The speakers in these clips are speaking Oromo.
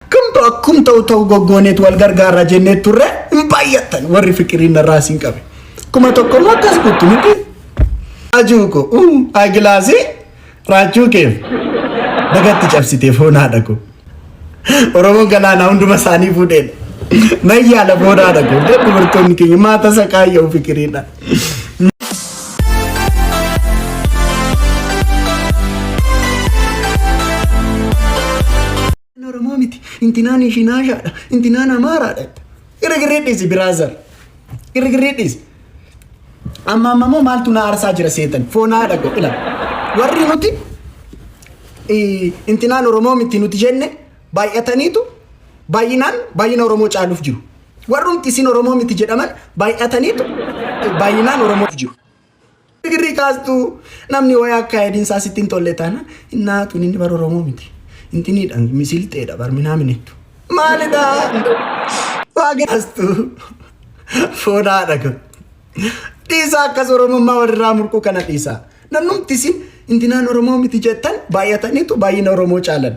Akkam ta'u akkum ta'u ta'u goggooneet wal gargaarra jenneet turre hin baay'attan warri fiqiriin narraa siin qabe. Kuma tokko immoo akkas kuttu miti. Ajuu ko uu agilaasii raachuu keef dagatti cabsitee foonaadha ko. Oromoon galaanaa hunduma isaanii fuudheen. Mayyaala foonaadha ko. Dubartoonni keenya maata isa kaayyoo fikiriidha. Intinaan Oromoo miti. Intinaan Ishinaashaadha. Intinaan Amaaraadha. Girgirrii dhiisi biraazar. Girgirrii dhiisi. Amma amma immoo maaltu na aarsaa jira seetan. Foonaa dhaqo ila. Warri nuti eh, intinaan Oromoo miti nuti jenne baay'ataniitu baay'inaan baay'ina Oromoo caaluuf jiru. Warrumti isin Oromoo miti jedhaman baay'ataniitu eh, baay'inaan Oromoof jiru. Girrii kaastu namni wayii akka ayidiinsaa sitti hin tolle taana innaa tun inni bara Oromoo miti. Intiniidha misilxeedha bar minaa minittu. Maalidha? Waa kaastu foodaadha kun. Dhiisaa akkas Oromummaa walirraa murquu kana dhiisaa. Namnumti isin intinaan Oromoo miti jettan baay'ataniitu baay'ina Oromoo caalan.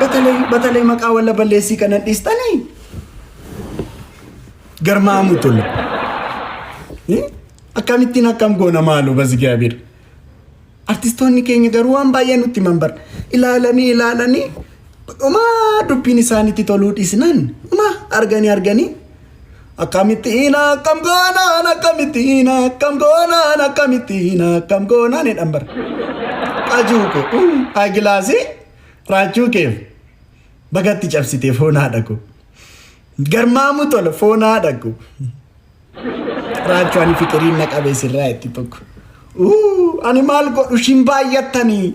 Batalay batalay maqaa walla balleessii kana dhiistanii garmaamu tolle. Akkamittiin akkam goona maalu bazigaabiir. Artistoonni keenya garuu waan baay'ee nutti himan bara. Ilaalanii ilaalanii dhumaa dubbiin isaanitti toluu dhiisnaan dhumaa arganii arganii Akkamittiin akkam goonaan akkamittiin akkam goonaan akkamittiin akkam goonaan jedhan bara. Qajuu koo agilaasii raachuu keef bagatti cabsitee foon haadha koo. Garmaamu tola foon haadha koo. Raachuu ani fiqiriin na qabee sirraa itti tokko. Ani maal godhu shin baay'attanii.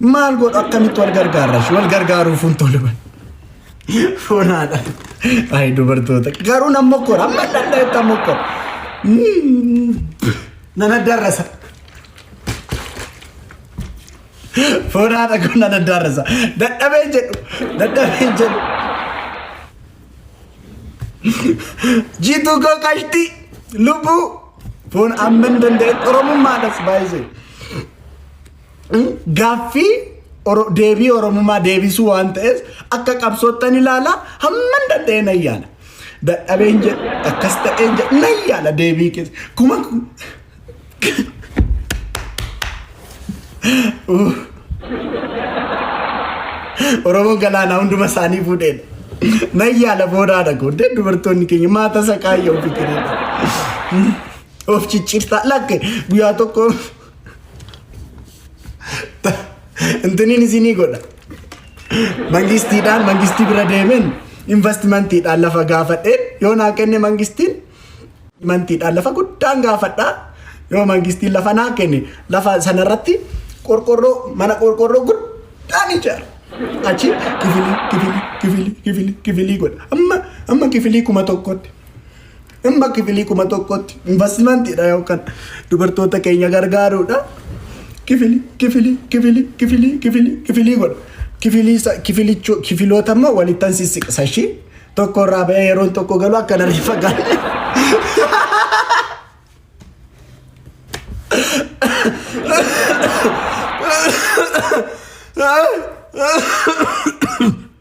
Maal godhu akkamitti wal gargaarra ishee wal gargaaruuf hin tolu bar. Foonaadha. Ayi dubartoota garuu nan mokkora amma danda'etti nan mokkora. Nan addaarrasa. Foonaadha kun nan addaarrasa. Dadhabee jedhu dadhabee jedhu. Jiituu koo qashtii lubbuu foon amma hin danda'etti oromummaadhas baay'isee. gaaffii deebii Oromummaa deebisuu waan ta'eef akka qabsoottan ilaalaa hamman danda'e nan yaala. Dadhabeen jedhe akkas ta'een jedhe nan yaala deebii keessa. Kuma Oromoo galaanaa hunduma isaanii fuudheedha. Nan yaala boodaadha gooddee dubartoonni keenya maata saqaayya ofi kenneedha. Of ciccirtaa lakke guyyaa tokko Intiniin isinii godha. Mangistiidhaan mangistii bira deemeen investimantiidhaan lafa gaafadhee yoo naa kenne mangistiin mantiidhaan lafa guddaan gaafadhaa yoo mangistiin lafa naa kenne lafa sanarratti qorqorroo mana qorqorroo guddaan ijaara. Achi kifilii kifilii kifilii kifilii kifilii godha. Amma amma kifilii kuma tokkotti. Dhimma kifilii kuma tokkotti investimantiidha yookaan dubartoota keenya gargaaruudha. Kifili, kifili, kifili, kifili, kifili, kifilii godha. Kifilii sa- kifilicho- kifiloota immoo walittan sissiqsa ishii. Tokko irraa ba'ee yeroon tokko galu akka narri fagaanne.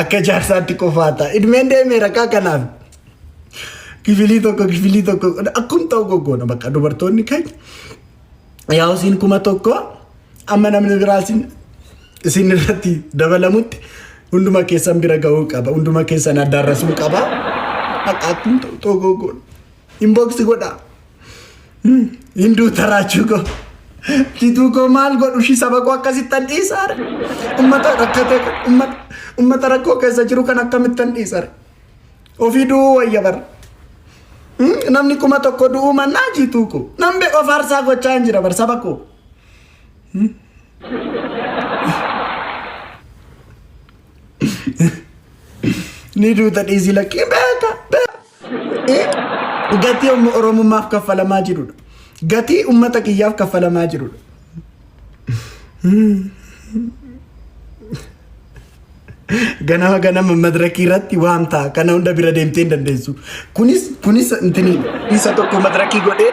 Akka jaarsaatti qofaata. Idmeen deemee rakkaa kanaaf. Kifilii tokko kifilii tokko akkuma ta'u goggoona bakka dubartoonni keenya. Yaa isin kuma tokko amma namni biraa isin isin irratti dabalamutti hunduma keessan bira ga'uu qaba. Hunduma keessan addaarrasuu qaba. Bakka akkuma ta'u ta'u goggoona. Inbox godha. Hinduu taraachuu koo. Tituu koo maal godhu shi saba koo akkasittan dhiisaar. Ummata rakkate ummata ummata rakkoo keessa jiru kan akkamittan dhiisaar. Ofii du'uu wayya bara. Namni kuma tokko du'uu mannaa jiituu koo. Namni of aarsaa gochaa hin jira bara saba koo. Ni duuta dhiisii lakkii beeka beeka. Gatii umma Oromummaaf kaffalamaa jirudha. Gatii ummata kiyyaaf kaffalamaa jirudha. Ganama ganama madirakii irratti waan ta'a. Kana hunda bira deemtee hin dandeessu. Kunis kunis intini isa tokko madirakii godhee